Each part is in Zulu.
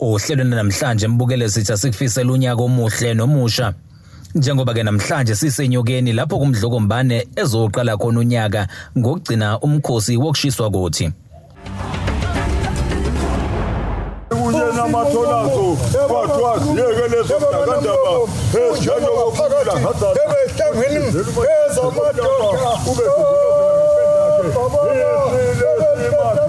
Ohlelweni namhlanje mbukele sitha sikufisela unyaka omuhle nomusha. Njengoba ke namhlanje sisenyokeni lapho kumdloko mbane ezoqala khona unyaka ngokugcina umkhosi wokushiswa kothi. kunye namatholazo kwathiwa ziyeke lezo dakandaba ezinjengokuphakela ngebehlangene ezamadonda ube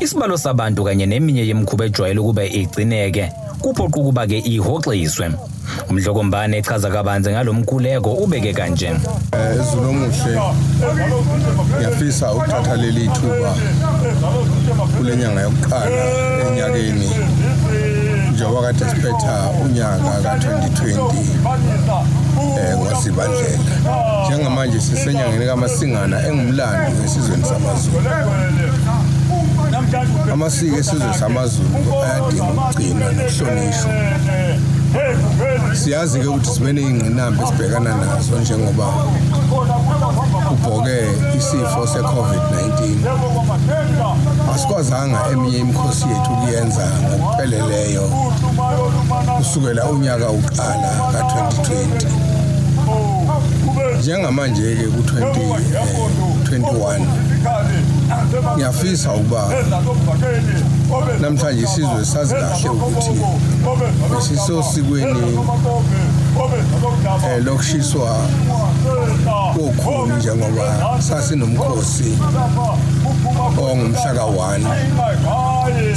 Isibalo sabantu kanye neminye yemikhuba ejwayele ukuba igcineke kuphoqa ukuba ke ihoxiswe. Umdlokombane echaza kabanzi ngalomkhuleko ubeke kanje. Eh, Ezulu omuhle ngiyafisa ukuthatha leli thuba kule nyanga yokuqala enyakeni njengoba kade siphetha unyaka ka-2020 eh ngosibandlela njengamanje sisenyangeni kamasingana engumlando esizweni samazulu amasiko esizwe samaZulu ayadinga ukugcinwa nokuhlonishwa siyazi-ke ukuthi sibe ney'ngqinamba esibhekana nazo njengoba kubhoke isifo se-covid-19 asikwazanga eminye imikhosi yethu ukuyenza ngokupheleleyo kusukela unyaka uqala ka-2020 Njengamanje-ke ku-2021 ngiyafisa ukuba namhlanje isizwe sazi kahle ukuthi sisosikweni eh, lokushiswa kokhulu njengoba sasinomkhosi ongumhlaka 1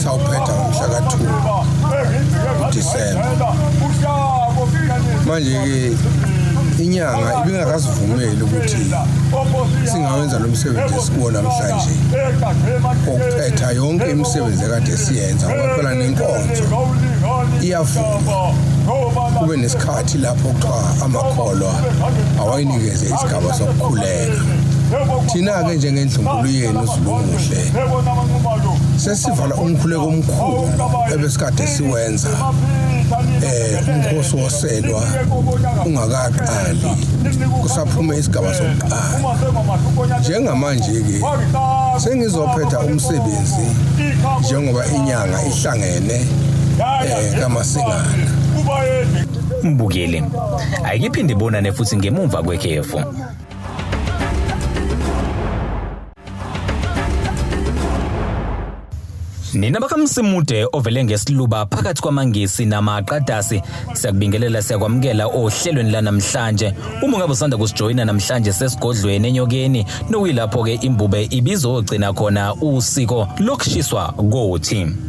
sawuphetha ngomhlaka 2 uDisemba manje-ke inyanga ibingakasivumeli ukuthi singawenza lo msebenzi esikuwo namhlanje okuqetha yonke imisebenzi ekade siyenza ngoba phela nenkonzo iyavuma kube nesikhathi lapho kuthiwa amakholwa awayinikeze isigaba sokukhuleka thina-ke njengendlunkulu yenu zilumuhle sesivala umkhuleko omkhulu ebesikade siwenza um umkhosi wos celwa ungakaqali kusaphuma isigaba sokuqala njengamanje-ke sengizophetha umsebenzi njengoba inyanga ihlangene um kamasingana mbukeli ayikiphinde bonane futhi ngemumva kwekhefu Nina bakamsimude ovele ngesiluba phakathi kwamangisi namaqadasi siyakubingelela siyakwamukela ohlelweni lanamhlanje uma ngabe usanda kusijoyina namhlanje sesigodlweni enyokeni nokuyilapho ke imbube ibizogcina khona usiko lokushiswa kothi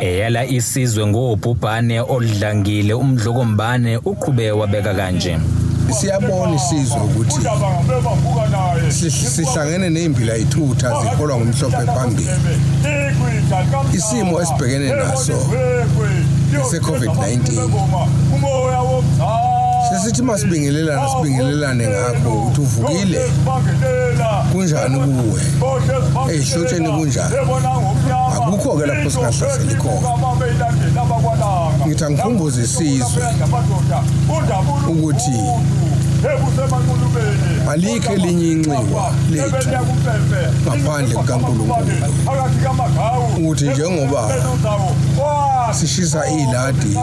eyala isizwe ngobhubhane oludlangile umdlokombane uqhube wabeka kanje siyabona isizwe ukuthi sihlangene nezimbila ithutha ziholwa ngumhlophe phambili isimo esibhekene naso se-covid-19 sesithi masibingelelane sibingelelane ngakho ukuthi uvukile kunjani kuwe eyihlotsheni kunjani akukho-ke lapho singahlaseli khona ngithi angikhumbuze isizwe ukuthi alikho elinye inxiwa lethu ngaphandle kukankulunkulu ukuthi njengoba sishisa iladi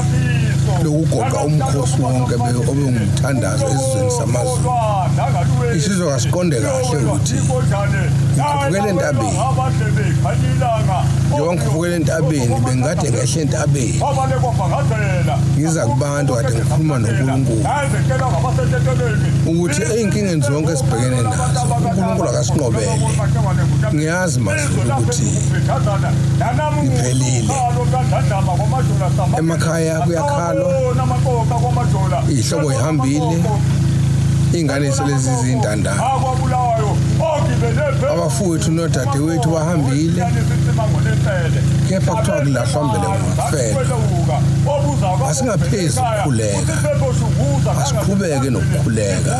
lokugoqa umkhosi wonke obewumthandazo esizweni samazulu isizwe kasiqonde kahle ukuthi Vukela entabeni. Njengoba ngivukela entabeni bengikade ngehle entabeni. Ngiza kubantu kade ngikhuluma noNkulunkulu. Ukuthi ezinkingeni zonke esibhekene nazo uNkulunkulu akasinqobele. Ngiyazi mazulu ukuthi ngiphelile. Emakhaya kuyakhalwa. Ihlobo ihambile. Ingane selezi zindandana. abafowethu nodadewethu bahambile kepha kuthiwa kulahlwa mbele ngomfelo asingaphezi ukukhuleka asiqhubeke nokukhuleka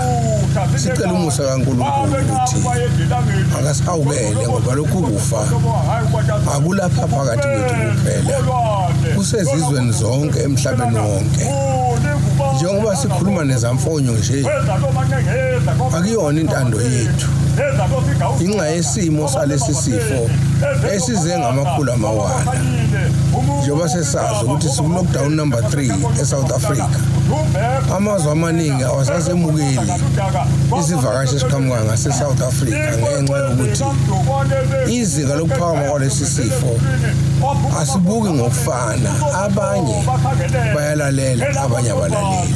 sicela umusa kaNkulunkulu ukuthi akasihawukele ngoba lokhu kufa akulapha phakathi kwethu kuphela kusezizweni zonke emhlabeni wonke njengoba sikhuluma nezamfonyo nje akuyona intando yethu inxa yesimo salesi sifo esize ngamakhulu amawala njengoba sesazi ukuthi siku-lockdown number 3 esouth africa amazwe amaningi awasasemukeli isivakashi esiqhamuka ngasesouth africa ngenxa yokuthi izinga lokuphakama kwalesi sifo asibuki ngokufana abanye bayalalela abanye abalaleli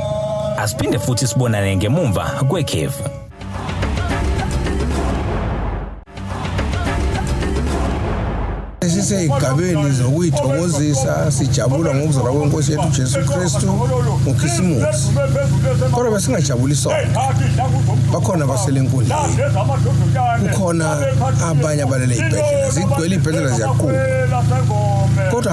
Asiphinde futhi sibonane ngemumva kwekhefu. siseyigabeni zokuyithokozisa sijabula ngokuzalwa kwenkosi yethu jesu kristu ngokhisimusi kodwa besingajabuli sonke bakhona abasele enkundleni kukhona abanye abalele iy'bhedlela zigcwele iy'bhedlela ziyaquma kodwa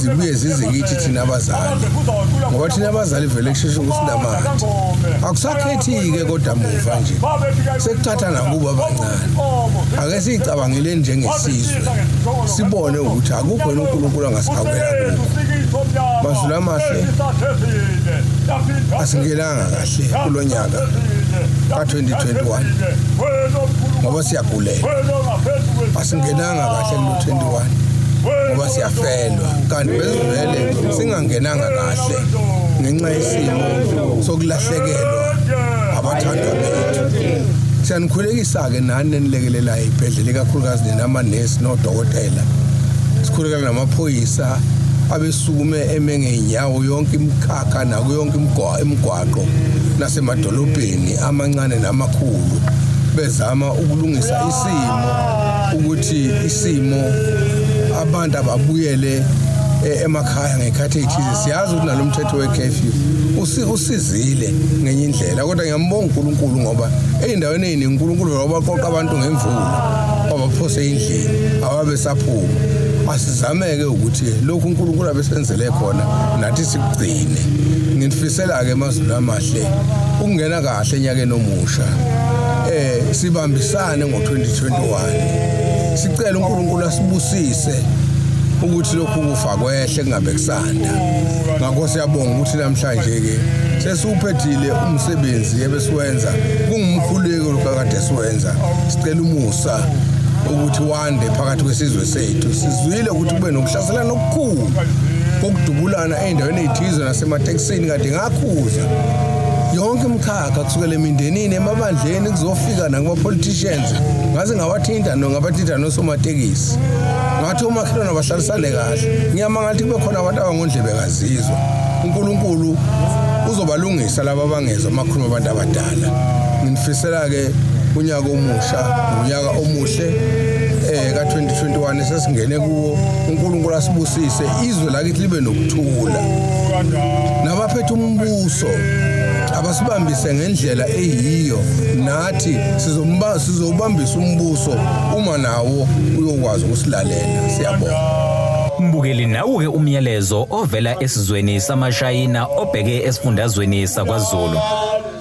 zibuye zize kithi thina abazali ngoba thina abazali vele kusheshe ukuthi namanje akusakhethi-ke kodwa muva nje sekuthatha nakubo abancane ake siyicabangeleni njengesizwe sibone ukuthi akukho yena unkulunkulu angasihawukela kuko mazulu amahle asingenanga kahle kulo nyaka ka-2021 ngoba siyaguleka asingenanga Anga kahle kulo 21 ngoba siyafelwa kanti bezivele singangenanga kahle ngenxa yesimo sokulahlekelwa abathandwa bethu siyanikhulekisa-ke nani nenilekelelayo ibhedlela ikakhulukazi nina amanesi nodokotela sikhulekela namaphoyisa abesukume eme ngey'nyawo yonke imikhakha nakuyo yonke imigwaqo nasemadolobheni amancane namakhulu bezama ukulungisa isimo ukuthi isimo abantu ababuyele eh, emakhaya ngekhathi ethize siyazi ukuthi nalomthetho wecurfew usizile ngenye indlela kodwa ngiyambonga uNkulunkulu ngoba eyindaweni eziningi uNkulunkulu wabaqoqa abantu ngemvula wabaphose endlini awabe saphuma asizameke ukuthi lokhu uNkulunkulu abesenzele khona nathi sikugcine nginifisela ke amazulu amahle ukungena kahle enyakeni omusha eh sibambisane ngo-2021 sicela uNkulunkulu asibusise ukuthi lokhu kufa kwehle kungabe kusanda ngakho siyabonga ukuthi namhlanje ke sesiwuphethile umsebenzi ebesiwenza kungumkhuleko lokade siwenza sicela umusa ukuthi wande phakathi kwesizwe sethu sizwile ukuthi kube nokuhlaselana okukhulu kokudubulana endaweni ezithize nasematekisini kade akhuza yonke imkhakha kusukela emindenini emabandleni kuzofika nakumapoliticians ngaze ngawathinta no ngabathinta nosomatekisi ngathi omakhelwane abahlalisane kahle ngiyamangala ukuthi kube khona abantu abangondlebe kazizwa unkulunkulu uzobalungisa laba abangezwa amakhuluma abantu abadala nginifisela-ke unyaka omusha unyaka omuhle eh ka-2021 esesingene kuwo unkulunkulu asibusise izwe akithi libe nokuthula nabaphethe umbuso abasibambise ngendlela eyiyo nathi sizomba sizobambisa umbuso uma nawo uyokwazi ukusilalela siyabonga Mbukeli nawuke umyalezo ovela esizweni samaShayina obheke esifundazweni sakwaZulu.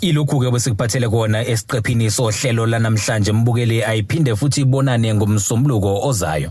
Ilokhu-ke besikuphathele kona esiqephini sohlelo lanamhlanje mbukeli ayiphinde futhi ibonane ngomsombuluko ozayo.